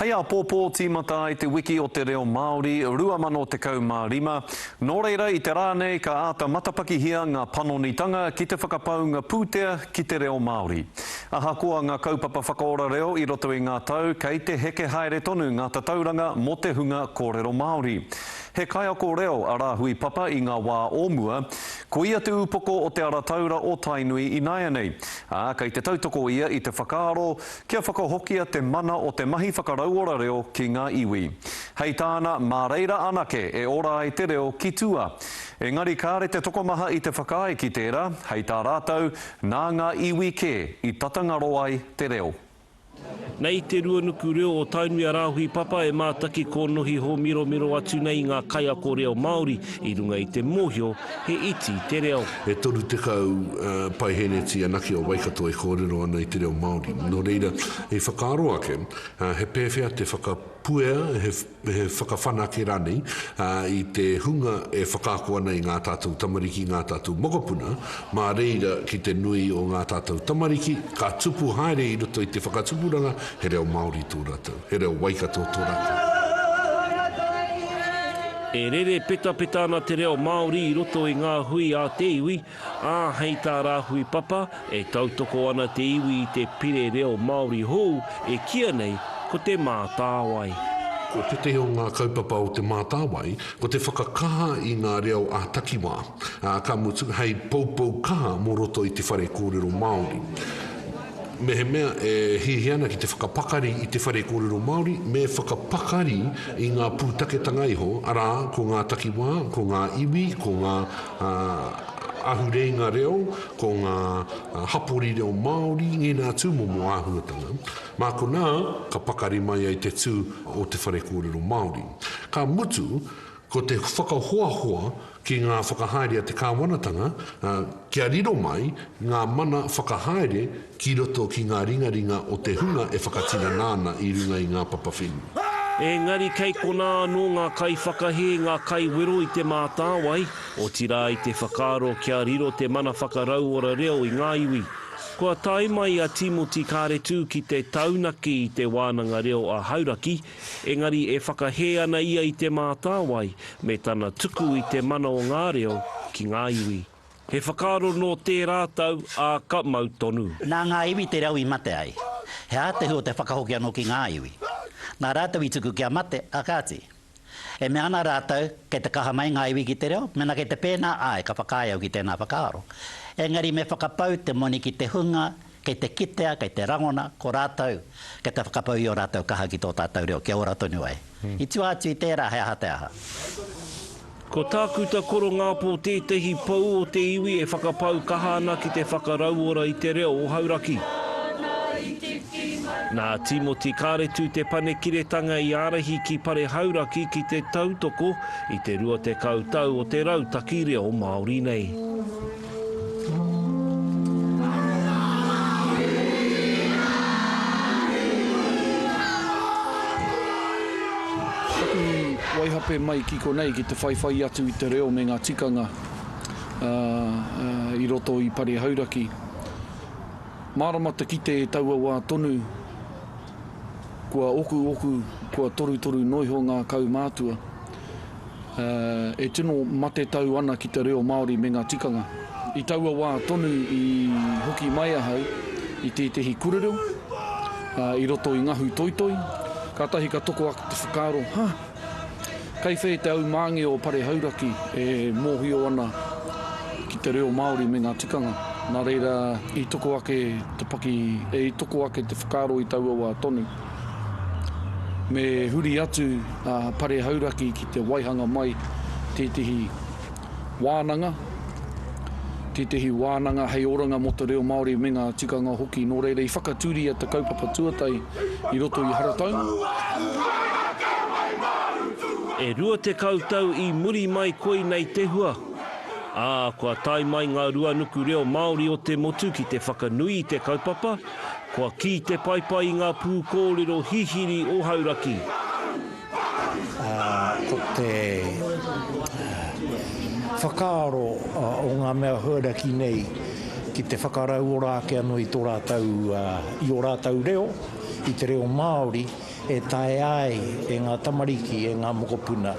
Hei āpōpō tīmata ai te Wiki o te Reo Māori 2015, nō reira i te rā nei ka āta matapakihia ngā panonitanga ki te whakapaunga pūtea ki te reo Māori. Ahakoa ngā kaupapa whakaora reo i roto i ngā tau kei te heke haere tonu ngā tatauranga mō te hunga kōrero Māori. He kaiako reo a Rāhui Papa i ngā wā o mua, koia te upoko o Te Ara Taura o Tainui ināianei, ā, kei te tautoko ia i te whakaaro Kia whakahokia te mana o te mahi whakarauora reo ki ngā iwi. Hei tāna, mā reira anake e ora ai te reo ki tua. Engari kāre te tokomaha i te whakaae ki tērā, hei tā rātou, nā ngā iwi kē i tata ngaro ai te reo. Nei te ruanuku reo o Tainui a Rāhui Papa e mātaki kōnohi hōmiromiro atu nei i ngā kaiako reo Māori i runga i te mōhio He iti te reo. E toru tekau paihēneti anake o Waikato e kōrero ana i te reo Māori. Nō reira, i whakaaro ake, he pēwhea te whakapuea, he whakawhanake rānei i te hunga e whakaako ana i ngā tātou tamariki, ngā tātou mokopuna, mā reira ki te nui o ngā tātou tamariki, ka tupu haere i roto i te whakatupuranga he reo Māori tō rātou. He reo Waikato to rata. E rere petapeta ana te reo Māori i roto i ngā hui a te iwi, ā, hei tā Rāhui Papa, e tautoko ana te iwi i te pire reo Māori hou e kīia nei ko Te Mātāwai. Ko tētehi o ngā kaupapa o Te Mātāwai, ko te whakakaha i ngā reo ā-takiwā, ā, ka mutu, hei poupou kaha mō roto i te whare kōrero Māori. Mehemea e hiahia ana ki te whakapakari i te whare kōrero Māori, me whakapakari i ngā pūtaketanga iho, arā, ko ngā takiwā, ko ngā iwi, ko ngā ahureinga reo, ko ngā hapori reo Māori, ngēnā tūmomo āhuatanga. Mā konā ka pakari mai ai te tū o te whare kōrero Māori. Ka mutu, Ko te whakahoahoa ki ngā whakahaere a te Kāwanatanga, kia riro mai ngā mana whakahaere ki roto ki ngā ringaringa o te hunga e whakatinana ana i runga i ngā papa whenua. Engari kei konā anō ngā kaiwhakahē, ngā kaiwero i Te Mātāwai, otirā i te whakaaro kia riro te mana whakarauora reo i ngā iwi. Kua tae mai a Tīmoti Kāretu ki te taunaki i Te Wānanga Reo a Hauraki, Engari e whakahē ana ia i Te Mātāwai me tana tuku i te mana o ngā reo ki ngā iwi. He whakaaro nō tērā tau, ā, ka mau tonu. Nā ngā iwi te reo i mate ai. He ātehu o te whakahoki anō ki ngā iwi. Nā rātou i tuku kia mate, ā kāti. E mea ana rātou, kei te kaha mai ngā iwi ki te reo, mēnā kei te pēnā, āe, ka whakaae au ki tēnā whakaaro. Engari me whakapau te moni ki te hunga Kei te kitea, kei te rangona, ko rātou, kei te whakapau i ō rātou kaha ki tō tātou reo, kia ora tonu ai. I tua atu i tērā, he aha te aha? Ko Tākuta Korongāpō tētehi pou o te iwi e whakapau kaha ana ki te whakarauora i te reo o Hauraki. Nā Tīmoti Kāretu Te Panekiretanga i ārahi ki Pare Hauraki ki te tautoko i te 20 tau o te rautaki reo Māori nei. waihape mai ki konei ki te whaiwhai atu i te reo me ngā tikanga i roto i Pare Hauraki. Mārama te kite e taua wā tonu, Kua okuoku, kua torutoru noiho ngā kaumātua. E tino matetau ana ki te reo Māori me ngā tikanga. I taua wā tonu i hoki mai ahau i tētehi kurereo i roto i Ngahu Toitoi, kātahi ka toko ake te whakaaro, Ha! Kai whē te aumāngi o Pare Hauraki e mōhio ana ki te reo Māori me ngā tikanga, nā reira i toko ake te paki, i toko ake te whakaaro i taua wā tonu. Me huri atu a Pare Hauraki ki te waihanga mai tētehi. wānanga, tētehi wānanga hei oranga mō te reo Māori me ngā tikanga hoki, nō reira i whakatūria te kaupapa tuatahi i roto i Haratau. E rua tekau tau i muri mai koinei te hua, ā, kua tae mai ngā ruanuku reo Māori o te motu ki te whakanui i te kaupapa, kua kī te paepae i ngā pūkōrero hihiri o Hauraki. Ko te whakaaro o ngā mea huaraki nei ki te whakarauora ake anō i tō rātou, i ō rātou reo, i te reo Māori, e taea ai e ngā tamariki, e ngā mokopuna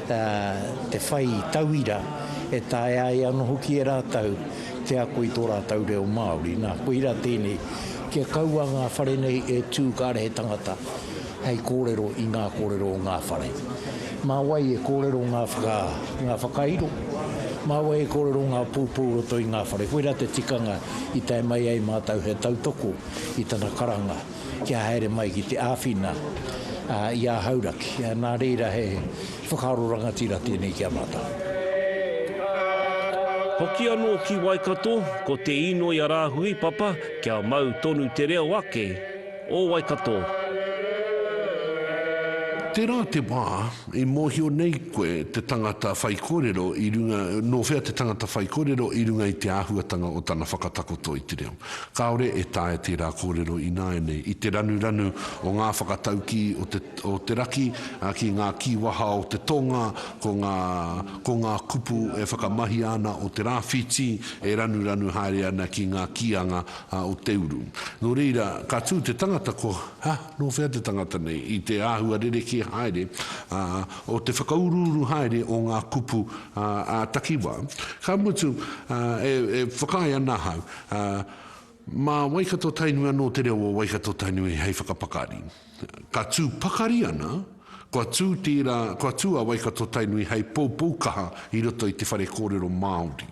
te whai tauira, e taea ai anō hoki e rātou te ako i tō rātou reo Māori. Nā, koira tēnei, kia kaua ngā whare nei e tū kāre he tangata hei kōrero i ngā kōrero o ngā whare. Mā wai e kōrero ngā whaka, ngā whakairo? Mā wai e kōrero ngā poupou o roto i ngā whare? Koirā te tikanga i tae mai ai mātou he tautoko i tana karanga kia haere mai ki te āwhina i a Hauraki. Nā reira he whakaaro rangatira tēnei ki a mātou. Hoki anō ki Waikato, ko te īnoi a Rāhui Papa kia mau tonu te reo ake. O Waikato. Tērā te wā i mōhio nei koe te tangata whaikōrero i runga, nō whea te tangata whaikōrero i runga i te āhuatanga o tana whakatakoto i te reo. Kāore e taea tērā kōrero ināianei i te ranuranu o ngā whakataukī o te, o te raki ki ngā kīwaha o te tōnga, ko ngā, ko ngā kupu e whakamahia ana o te rāwhītī e ranuranu haere ana ki ngā kīanga a o te uru. Nō reira, ka tū te tangata ko, ha, nō whea te tangata nei, i te āhua rerekē haere, ā, o te whakauruuru haere o ngā kupu, ā, ā-takiwā. Ka mutu, ā, e, e whakaae ana ahau, ā, mā Waikato-Tainui anō te reo o Waikato-Tainui hei whakapakari. Ka tū pakari ana, kua tū tērā, kua tū a Waikato-Tainui hei poupou kaha i roto i te whare kōrero Māori.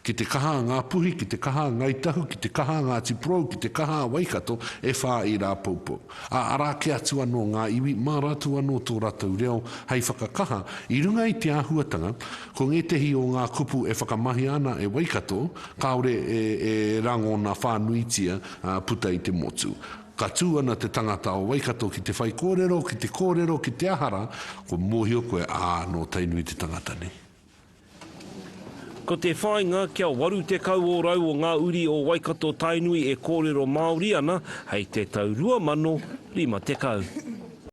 Ki te kaha a Ngā Puhi, ki te kaha a Ngāi Tahu, ki te kaha a Ngāti Porou, ki te kaha a Waikato, e whā ērā poupou. Ā, arā ake atu anō ngā iwi, mā rātou anō tō rātou reo hei whakakaha, i runga i te āhuatanga, ko ngētehi o ngā kupu e whakamahia ana e Waikato, kāore e, e rangona whānuitia puta i te motu. Ka tū ana te tangata o Waikato ki te whaikōrero, ki te kōrero, ki te aha rā, kua mōhio koe, ā, nō Tainui te tangata nei. Ko te whāinga, kia 80 ōrau o ngā uri o Waikato-Tainui e kōrero Māori ana hei te tau 2050.